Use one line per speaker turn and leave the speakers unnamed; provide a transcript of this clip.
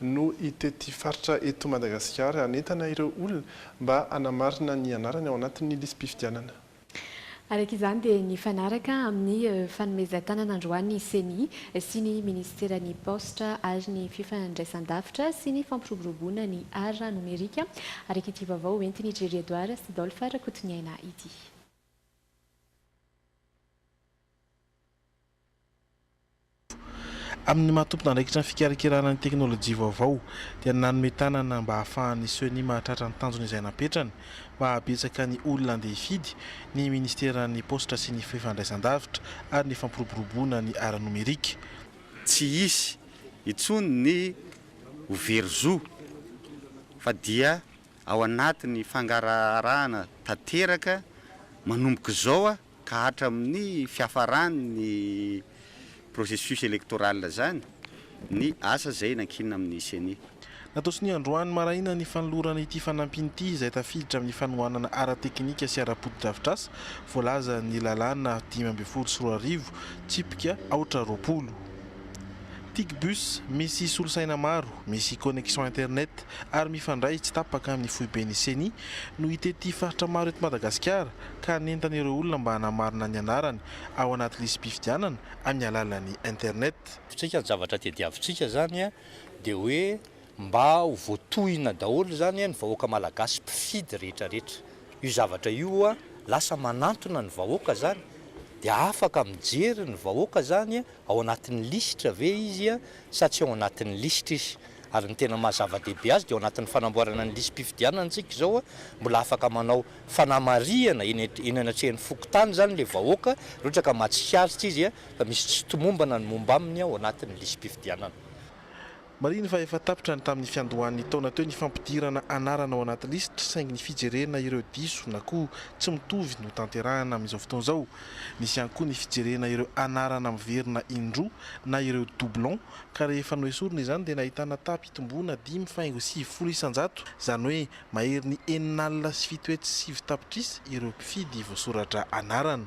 no hitety faritra eto Madagasikara hanentana ireo olona mba hanamarina ny anarany ao anatin'ny lisi-pifidianana. Araka
izany dia nifanaraka amin'ny fanomezan-tanana androany ny Ceni sy ny Ministeran'ny Paositra ary ny Fifandraisan-davitra sy ny Fampiroboroboana ny Art Nomerika, araka ity vaovao ho entin'i Jerry Edouard sy Dolph Rakotoniaina ity.
Amin'ny maha tompon'andraikitra ny fikarakarana ny teknolojia vaovao dia nanome tanana mba hahafahan'ny Ceni mahatratra ny tanjony izay napetrany mba hahabetsaka ny olona handeha hifidy ny Ministeran'ny Paositra sy ny Fifandraisandavitra ary ny Fampiroboroboana ny Ara-nomerika. Tsy
hisy intsony ny ho very zo fa dia ao anatin'ny fangaraharahana tanteraka manomboka izao aho ka hatramin'ny fiafaran'ny processus électoral izany ny asa izay nankinina amin'ny Ceni. Natao sonia androany
maraina ny fanolorana ity fanampiny ity izay tafiditra amin'ny fanohanana ara-teknika sy ara-potodrafitrasa voalazan'ny lalàna dimy ambin'ny folo sy roa arivo tsipika aotra roapolo. Tigbus misy solosaina maro, misy connexion internet ary mifandray tsy tapaka amin'ny foiben'ny Ceni no hitety faritra maro eto Madagasikara, ka nentana ireo olona mba hanamarina ny anarany ao anaty lisi-pifidianana amin'ny alalan'ny internet. Ny zavatra
tadiavintsika izany dia hoe mba ho voatohina daholo izany ny vahoaka malagasy mpifidy rehetra rehetra. Io zavatra io lasa manantona ny vahoaka izany dia afaka mijery ny vahoaka izany ao anatin'ny lisitra ve izy sa tsy ao anatin'ny lisitra izy. Ary ny tena maha zava-dehibe azy dia ao anatin'ny fanamboarana ny lisi-pifidianana antsika izao mbola afaka manao fanamarihana eny eny anatrehan'ny fokontany izany ilay vahoaka raha ohatra ka mahatsikaritra izy fa misy tsy tomombana ny momba aminy ao anatin'ny lisi-pifidianana. Marihiny
fa efa tapitra ny tamin'ny fiandohan'ny taona teo ny fampidirana anarana ao anaty lisitra saingy ny fijerena ireo diso na koa tsy mitovy no tanterahana amin'izao fotoana izao. Misy ihany koa ny fijerena ireo anarana miverina indroa na ireo doublons ka rehefa noesorina izany dia nahitana taha-pitomboana dimy faingo sivifolo isan-jato izany hoe Maherin'ny enina alina sy fito hetsy sy sivy tapitrisa ireo mpifidy voasoratra anarana.